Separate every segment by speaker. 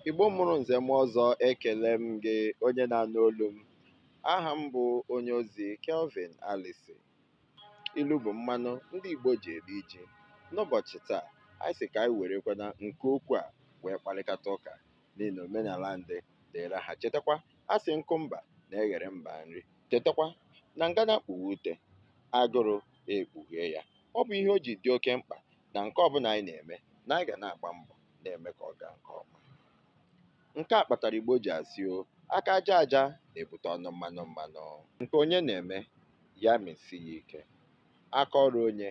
Speaker 1: Igbo mụrụ nze mụọ ọzọ ekele m gị onye na-anụ olu m aha m bụ onye ozi Kelvin Alison ilu bụ mmanụ ndị Igbo ji eri ji n'ụbọchị taa anyị sị ka anyị werekwana nke okwu a wee kparịkata ụka n'ihi na omenala ndị dịra ha chetakwa a sị nkụ mba na-eghere mba nri chetakwa na ngana kpuwe ute agụrụ ekpughee ya ọ bụ ihe o ji dị oke mkpa na nke ọbụla anyị na-eme na anyị ga na-agba mbọ na-eme ka ọ gaa nke ọma. Nke a kpatara Igbo ji asị o aka aja aja na-ebute ọnụ mmanụ mmanụ. Nke onye na-eme, ya mesi ya ike. Aka ọrụ onye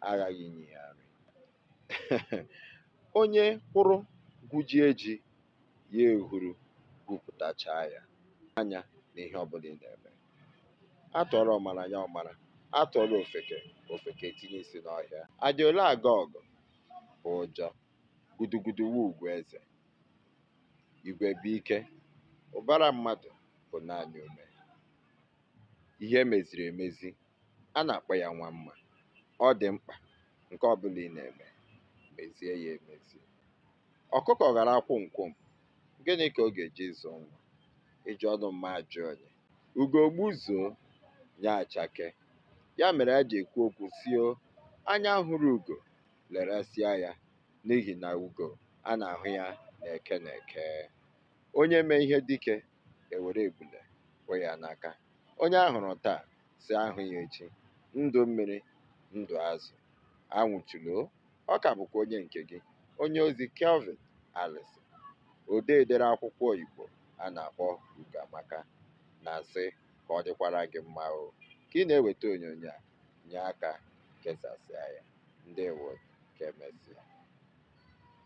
Speaker 1: aghaghị inye ya nri. Onye kwụrụ gwujie ji, ya ehuru gwupụtachaa ya. Anya na ihe ọbụla ị na-eme. A tụọrọ ọmara ya ọmara, a tụọrọ ofeke ofeke etinye isi n'ọhịa. A dị ole aga ọgụ bụ ụjọ gudugudu wu ugwu eze igwe bụ ike ụbara mmadụ bụ naanị ume ihe e meziri emezi a na-akpọ ya nwa mma ọ dị mkpa nke ọbụla ị na-eme mezie ya emezi ọkụkọ ghara kwụm kwụm gịnị ka ọ ga-eji zụọ nwa iji ọnụ mma ajụ onye Ugo gbuzuo, ya achakee. Ya mere a ji ekwu okwu sị o anya hụrụ ugo leresịa ya n'ihi na ugo a na-ahụ ya n'Eke n'Eke. Onye mee ihe dike e were ebule kwee ya n'aka. Onye a hụrụ taa sị a hụ ya echi. Ndụ mmiri, ndụ azụ. Anwụchula ọ ka bụkwa onye nke gị onye ozi Kelvin Alison odee dere akwụkwọ Igbo a na-akpọ Ugoamaka na-asị ka ọ dịkwara gị mma o ka ị na-eweta onyonyo a nye aka kesasịa ya ndewo ka emesịa